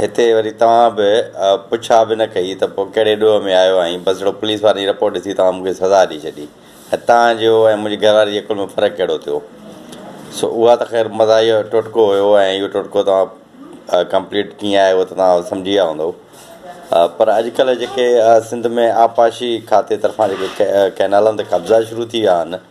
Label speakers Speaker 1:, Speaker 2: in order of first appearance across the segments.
Speaker 1: هتي وري توهان به پڇا به نه ڪئي ته پوء ڪهڙي ڏوهه ۾ آيو آهين، بس هڙو پوليس وارن جي رپورٽ ڏسي توهان مون کي سزا ڏئي ڇڏي. ۽ توهان جو ۽ منهنجي گهر واري جي عقل ۾ فرق ڪهڙو ٿيو؟ سو اها ته خير مزاحيه ٽوٽڪو هيو ۽ اهو ٽوٽڪو توهان ڪمپليٽ ڪيئن آهي اهو ته توهان سمجهي ويا هوندئو. پر اڄڪلهه جيڪي سنڌ ۾ آبپاشي کاتي طرفان جيڪي ڪئنالن تي قبضا شروع ٿي ويا آهن،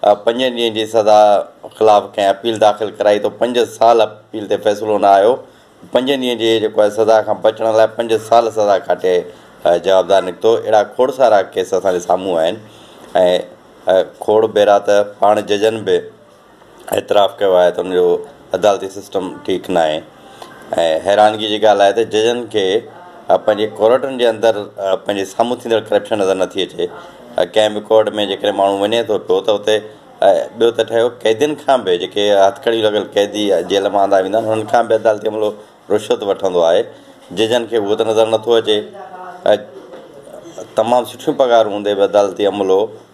Speaker 1: پنجن ڏينهن جي سزا خلاف ڪنهن اپيل داخل ڪرائي ته پنج سال اپيل تي فيصلو نه آيو پنجن ڏينهن جي جيڪو آهي سزا کان بچڻ لاء پنج سال سزا ڪاٽي جوابدار نڪتو اهڙا کوڙ سارا ڪيس اسان جي سامهون آهن ۽ کوڙ ڀيرا ته پاڻ ججن به اعتراف ڪيو آهي ته ان جو عدالتي سسٽم ٺيڪ ناهي ۽ حيرانگي جي ڳالهه آهي ته ججن کي پنهنجي ڪورٽن جي اندر پنهنجي سامهون ٿيندڙ ڪرپشن نظر نه ٿي اچي ڪنهن به ڪورٽ ۾ جيڪڏهن ماڻهو وڃي ٿو پيو ته اتي ٻيو ته ٺهيو قيدين کان به جيڪي هٿڪڙيون لڳل قيدي جيل مان آندا ويندا آهن انهن کان به عدالتي عملو رشوت وٺندو آهي ججن کي اهو ته نظر نٿو اچي تمام سٺيون پگهارون هوندي به عدالتي عملو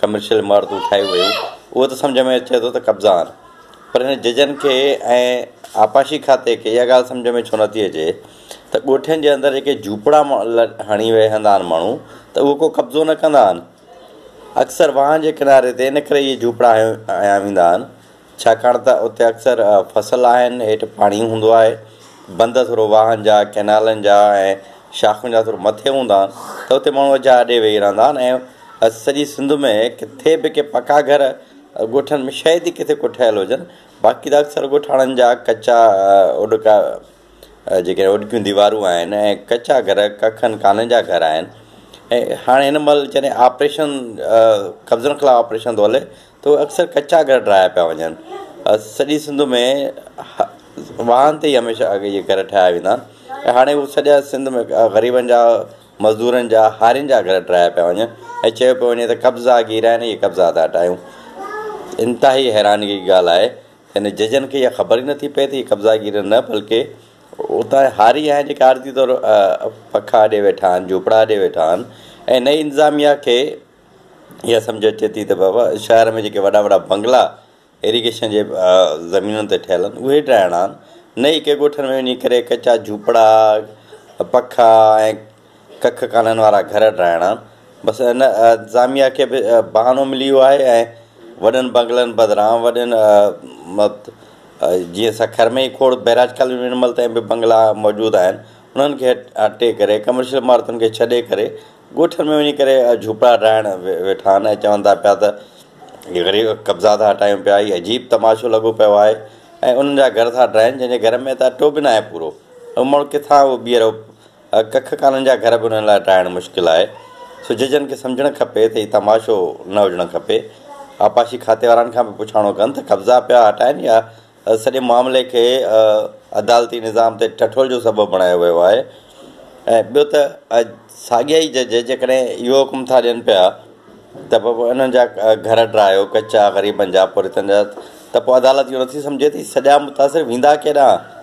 Speaker 1: ڪمرشل عمارتون ٺاهيون ويون اهو ته سمجهه ۾ اچي ٿو ته قبضا آهن پر هن ججن کي ۽ آبپاشي کاتي کي اها ڳالهه سمجهه ۾ ڇو نٿي اچي ته ڳوٺن جي اندر جيڪي جهوپڙا هڻي ويهندا آهن ماڻهو ته اهو ڪو قبضو نه ڪندا آهن اڪثر واهن جي ڪناري تي ان ڪري اهي جهوپڙا هنيا ويندا آهن ڇاڪاڻ ته اتي اڪثر فصل آهن، هيٺ پاڻي هوندو آهي، بند ٿورو واهن جا، ڪئنالن جا ۽ شاخن جا ٿورو مٿي هوندا آهن ته اتي ماڻهو اجها اڏي ويهي رهندا آهن ۽ سڄي سنڌ ۾ ڪٿي به ڪي پڪا گهر ڳوٺن ۾ شايد ئي ڪٿي ڪو ٺهيل هجن باقي ته اڪثر ڳوٺاڻن جا ڪچا اوڏڪا جيڪي اوڏڪيون ديوارون آهن ۽ ڪچا گهر ڪکن ڪانن جا گهر آهن ۽ هاڻي هن مهل جڏهن آپريشن قبضن خلاف آپريشن ٿو هلي ته اڪثر ڪچا گهر ٺاهيا پيا وڃن. سڄي سنڌ ۾ واهن تي ئي هميشه اڳي جي گهر ٺاهيا ويندا آهن ۽ هاڻي هو سڄا سنڌ ۾ غريبن جا، مزدورن جا، هارين جا گهر ٺاهيا پيا وڃن ۽ چيو پيو وڃي ته قبضا گيرا نهي قبضا ٿا ٽاهيون. انتهائي حيرانگي جي ڳالهه آهي ته هن ججن کي اها خبر ئي نٿي پئي ته هي قبضا گير نه بلڪه اتان جا هاري آهن جيڪي عارضي طور پکا اڏي ويٺا آهن، جهوپڙا اڏي ويٺا آهن ۽ نئين انتظاميا کي اها سمجهه اچي ٿي ته بابا شهر ۾ جيڪي وڏا وڏا بنگلا ايريگيشن جي زمينن تي ٺهيل آهن اهي ڊاهڻا آهن نه ئي ڪنهن ڳوٺن ۾ وڃي ڪري ڪچا جهوپڙا پکا ۽ ڪک ڪانن وارا گهر ڊاهڻا آهن بس ان انتظاميا کي به بهانو ملي ويو آهي ۽ وڏن بنگلن بدران وڏن جيئن سکر ۾ کوڙ بئراج ڪالوني ۾ هن مهل تائين به بنگلا موجود آهن انهن کي هٽي ڪري ڪمرشل عمارتن کي ڇڏي ڪري ڳوٺن ۾ وڃي ڪري جهوپڙا ڊاهڻ ويٺا آهن ۽ چون ٿا پيا ته غريب قبضا ٿا هٽايون پيا هي عجيب تماشو لڳو پيو آهي ۽ انهن جا گهر ٿا ڊاهين جن جي گهر ۾ ته اٽو به ناهي پورو هو ماڻهو ڪٿان هو ٻيهر ڪک ڪانن جا گهر به انهن لاء ڊاهڻ مشڪل آهي سو ججن کي سمجهڻ کپي ته هي تماشو نه هجڻ کپي آبپاشي کاتي وارن کان به پڇاڻو ڪن ته قبضا پيا هٽائين يا سڄي معاملي کي عدالتي نظام تي ٺٺول جو سبب بڻايو ويو آهي ۽ ٻيو ته ساڳيا ئي جج جيڪڏهن اهو حڪم ٿا ڏين پيا ته بابا انهن جا گهر ڊاهيو ڪچا غريبن جا پورهيتن جا ته پوء عدالت اهو نٿي سمجهي ته سڄا متاثر ويندا ڪيڏانهن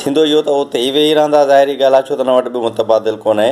Speaker 1: ٿيندو اهو ته اتي ئي ويهي رهندا ظاهري ڳالهه آهي ڇو ته ان وٽ ٻيو متبادل ڪونهي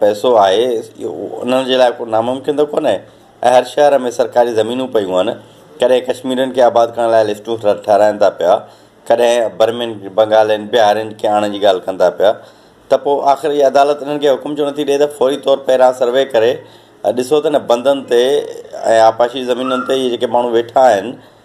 Speaker 1: پئسو آهي انهن جي لاء ڪو ناممڪن ته ڪونهي ۽ هر شهر ۾ سرڪاري زمينون پيون آهن ڪڏهن ڪشميرين کي آباد ڪرڻ لاء لسٽون ٺهرائن ٿا پيا ڪڏهن برمين بنگالين بهارين کي آڻڻ جي ڳالهه ڪن ٿا پيا ته پوء آخر هي عدالت انهن کي حڪم ڇو نٿي ڏئي ته فوري طور پهريان سروي ڪري ڏسو ته نه بندن تي ۽ آبپاشي زمينن تي اهي جيڪي ماڻهو ويٺا آهن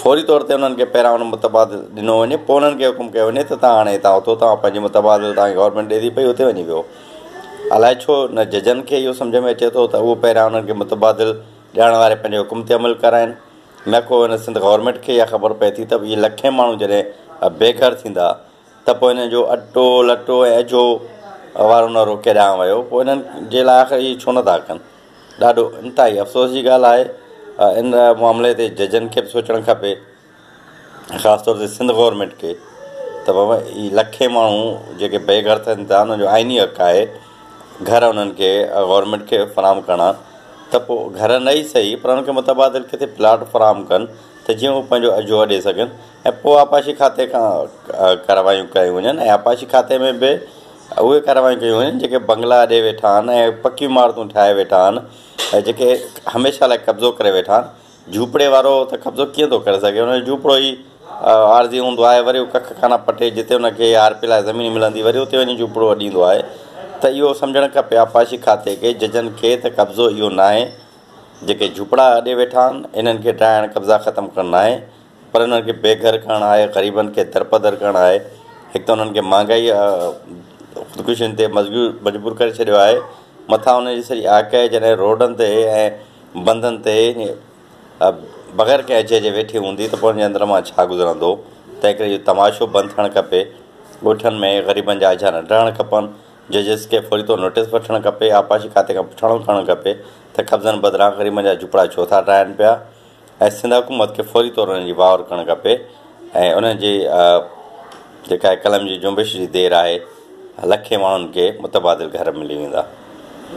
Speaker 1: فوري طور تي انهن کي پهريان ان متبادل ڏنو وڃي پوء انهن کي حڪم ڪيو وڃي ته تان هاڻي هتان اٿو تان پنهنجي متبادل تان گورنمينٽ ڏي ٿي پئي اتي وڃي ويهو الاء ڇو نه ججن کي اهو سمجهه ۾ اچي ٿو ته اهو پهريان انهن کي متبادل ڏيارڻ واري پنهنجي حڪم تي عمل ڪرائين نه ڪو هن سنڌ گورنمينٽ کي اها خبر پئي ٿي ته اهي لکين ماڻهو جڏهن بي گهر ٿيندا ته پوء هن جو اٽو، لٽو ۽ اجهو وارو نعرو ڪيڏانهن ويو؟ پوء هنن جي لاء آخر اهي ڇو نه ٿا ڪن؟ ڏاڍو انتهائي افسوس جي ڳالهه آهي. ان معاملي تي ججن کي به سوچڻ کپي. خاص طور تي سنڌ گورنمينٽ کي ته بابا اهي لکين ماڻهو جيڪي بي گهر ٿين ٿا انهن جو آئيني حق آهي گهر انهن کي گورنمينٽ کي فراهم ڪرڻا ته پوء گهر نه ئي سهي پر انهن کي متبادل ڪٿي پلاٽ فراهم ڪن ته جيئن هو پنهنجو اجهو اڏي سگهن. ۽ پوء آبپاشي کاتي کان ڪارروايون ڪيون وڃن ۽ آبپاشي کاتي ۾ به اهي ڪارروايون ڪيون وڃن جيڪي بنگلا اڏي ويٺا آهن ۽ پڪيون عمارتون ٺاهي ويٺا آهن ۽ جيڪي هميشه لاء قبضو ڪري ويٺا آهن جهوپڙي وارو ته قبضو ڪيئن ٿو ڪري سگهي ان جو جهوپڙو ئي عارضي هوندو آهي وري هو ڪک ڪانه پٽي جتي ان کي آر پي لاء زمين ملندي وري اتي وڃي جهوپڙو اڏيندو آهي ته اهو سمجهڻ کپي آبپاشي کاتي کي ججن کي ته قبضو اهو ناهي جيڪي جهوپڙا اڏي ويٺا آهن انهن کي ڊاهڻ قبضا ختم ڪرڻ ناهي پر انهن کي بي گهر ڪرڻ آهي، غريبن کي درپدر ڪرڻ آهي، هڪ ته انهن کي مهانگائي خودڪشين تي مجبور ڪري ڇڏيو آهي، مٿان انهن جي سڄي آڪهه جڏهن روڊن تي ۽ بندن تي بغير ڪنهن اجهي جي ويٺي هوندي ته پوء انهن جي اندر مان ڇا گذرندو، تنهن ڪري اهو تماشو بند ٿيڻ کپي، ڳوٺن ۾ غريبن جا اجها نه ڊهڻ کپن، ججز کي فوري طور نوٽيس وٺڻ کپي، آبپاشي کاتي کان پڇاڻو ڪرڻ کپي ته قبضن بدران غريبن جا جهوپڙا ڇو ٿا ڊاهن پيا. ۽ سنڌ حڪومت کي فوري طور انهن جي واهر ڪرڻ کپي ۽ انهن جي جيڪا هي قلم جي جنبش جي دير آهي لکين ماڻهن کي متبادل گهر ملي ويندا.